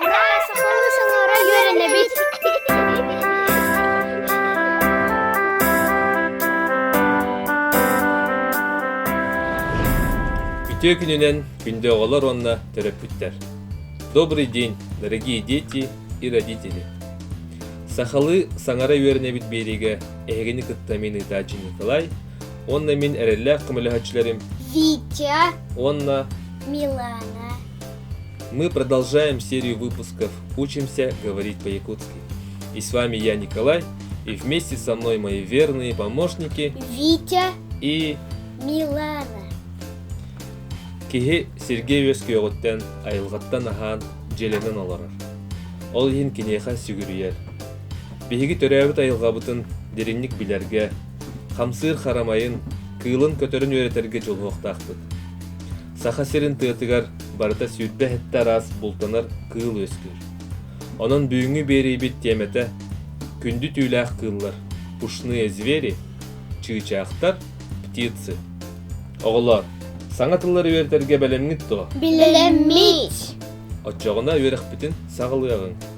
Ура, сахалыы саҥара үөрэнэбит! Үтүө күнүнэн күндү оҕолор уонна төрөппүттэр! Добрый день, дорогие дети и родители! Сахалыы саҥара үөрэнэбит биэриигэ эһигини кытта мин ыытааччы Николай уонна мин эрэллээх көмөлөһөөччүлэрим Витя, уонна Милана. Мы продолжаем серию выпусков «Учимся говорить по-якутски». И с вами я, Николай, и вместе со мной мои верные помощники Витя и Милана. Киһи Сергей Үөскүөҕүттэн айылҕаттан аһаан дьиэлэнэн олорор. Ол иһин киниэхэ сүгүрүйэр. Биһиги төрөөбүт айылҕабытын дириҥник билэргэ, Хамсыыр харамайын, кыылын көтөрүн үөрэтэргэ дьулуһуохтаахпыт. Саха сирин тыатыгар барыта сүүрбэ-сэттэ араас бултанар кыыл үөскүүр. Онон бүгүҥҥү биэриибит тиэмэтэ күндү түүлээх кыыллар, пушные звери, чыычаахтар, птицы. Оҕолоор, саҥа тыллары үөрэтэргэ бэлэмҥит дуо? Билэммит. Оччоҕуна үөрэхпитин саҕалыаҕыҥ.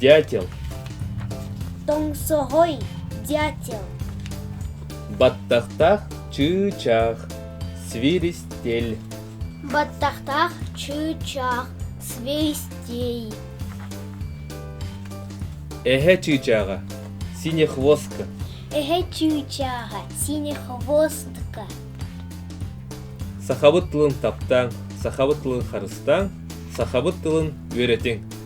дятел тоҥсоҕой дятел баттахтаах чыычаах свиристель баттахтаах чыычаах свиристей эһэ чыычааҕа синий хвостка эһэ чыычааҕа синий хвостка сахабыт тылын таптааҥ сахабыт тылын харыстааҥ сахабыт тылын үөрэтиҥ